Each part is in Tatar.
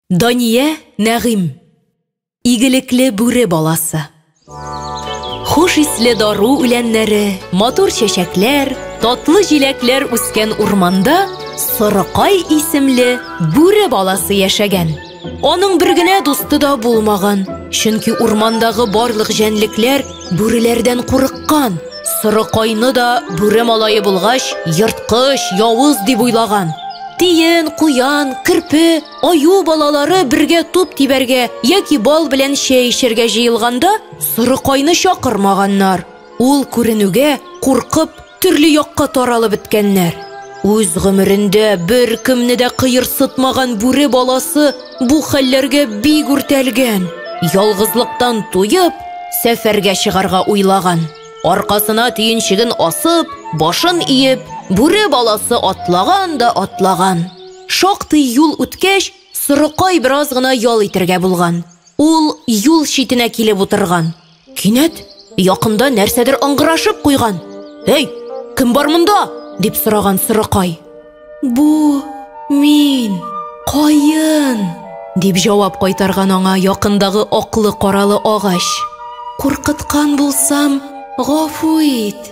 Дания Нәгыйм. Игелекле бүре баласы. Хуш исле дару үләннәре, матур чәчәкләр, татлы җиләкләр үскән урманда Сырыкай исемле бүре баласы яшәгән. Аның бер генә дусты да булмаган, чөнки урмандагы барлык җәнлекләр Бүреләрдән курыккан. Сорыкайны да бүре малае булгач, ерткыч, явыз дип уйлаган. Тиен, куян, керпе, аю балалары бергә туп тибәргә яки бал белән чәй эчәргә җыелганда, сорыкайны чакырмаганнар. Ул күренүгә куркып, Төрле якка таралып беткәннәр. Үз гомерендә беркемне дә кыерсытмаган бүре баласы бу хәлләргә бик үртәлгән. Ялгызлыктан туеп, сәфәргә чыгарга уйлаган. Аркасына төенчеген асып, башын иеп, бүре баласы атлаган да атлаган. Шактый юл үткәч, сорыкай бераз гына ял итәргә булган. Ул юл читенә килеп утырган. Кинәт якында нәрсәдер ыңгырашып куйган. Әй, кем бар монда? дип сораган сырыкай. Бу мин, каен, дип җавап кайтарган аңа якындагы аклы-каралы агач. Куркыткан булсам, гафу ит.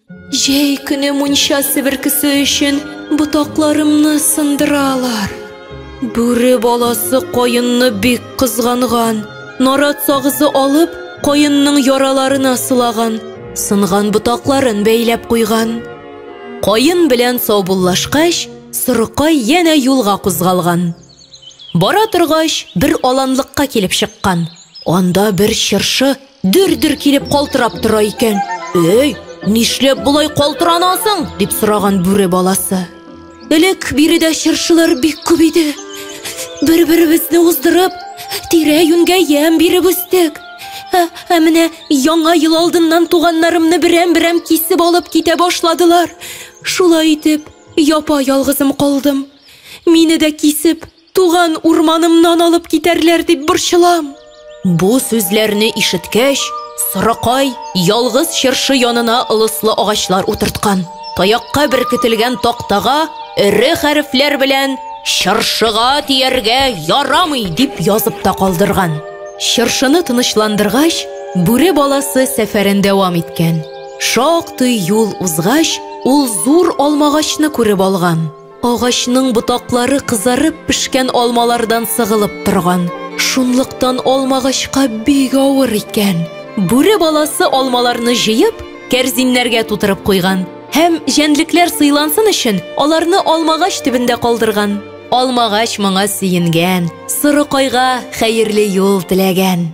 Җәй көне мунча себеркесе өчен ботакларымны сындыралар. Бүре баласы каенны бик кызганган. Нарат сагызы алып, каенның яраларына сылаган, сынган ботакларын бәйләп куйган. Каен белән саубуллашкач, сорыкай янә юлга кузгалган. Бара торгач, бер аланлыкка килеп чыккан. Анда бер чыршы Дер-дер килеп калтырап тора икән. Эй, нишләп болай калтыранасың? дип сораган бүре баласы. Элек биредә чыршылар бик күп иде. Бер-беребезне уздырып, тирә-юньгә ямь биреп үстек. Ә, ә менә яңа ел алдыннан туганнарымны берәм-берәм кисеп алып китә башладылар. Шулай итеп, япа-ялгызым калдым. Мине дә кисеп, Туган урманымнан алып китәрләр дип борчылам. Бу сүзләрне ишеткәч, Сорыкай ялгыз чыршы янына ылыслы агачлар утырткан. Таякка беркетелгән тактага эре хәрефләр белән Чыршыга тияргә ярамый дип язып та калдырган. Чыршыны тынычландыргач, бүре баласы сәфәрен дәвам иткән. Шактый юл узгач, ул зур алмагачны күреп алган. Агачның ботаклары кызарып пешкән алмалардан сыгылып торган. Шунлыктан алмагачка бик авыр икән. Бүре баласы алмаларны җыеп, кәрзиннәргә тутырып куйган. Һәм җәнлекләр сыйлансын өчен, аларны алмагач төбендә калдырган. Алмагач моңа сөенгән, сорыкайга хәерле юл теләгән.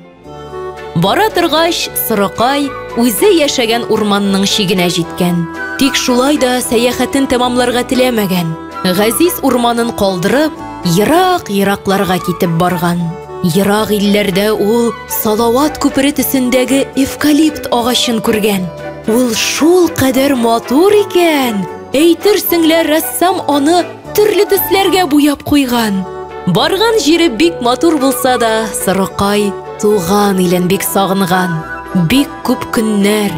Бара торгач, Сорокай үзе яшәгән урманның чигенә җиткән. Тик шулай да сәяхәтен тәмамларга теләмәгән. Газиз урманын калдырып, ерак-еракларга китеп барган. Ерак илләрдә ул Салават күпере төсендәге эвкалипт агачын күргән. Ул шул кадәр матур икән! Әйтерсең лә рәссам аны Төрле төсләргә буяп куйган. Барган җире бик матур булса да, сырыкай туган илен бик сагынган. Бик күп көннәр,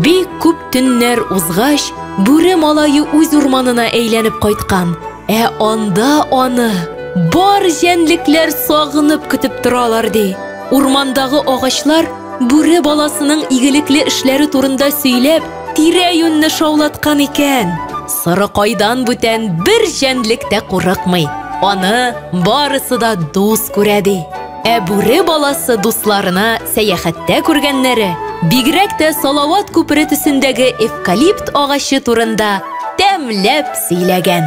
бик күп төннәр узгач, бүре малае үз урманына әйләнеп кайткан. Ә анда аны бар җәнлекләр сагынып көтеп торалар, ди. Урмандагы агачлар бүре баласының игелекле эшләре турында сөйләп, Тирә-юньне шаулаткан икән. Сорыкайдан бүтән бер җәнлек тә курыкмый. Аны барысы да дус күрә, ди. Ә бүре баласы дусларына сәяхәттә күргәннәре, бигрәк тә Салават күпере төсендәге эвкалипт агачы турында тәмләп сөйләгән.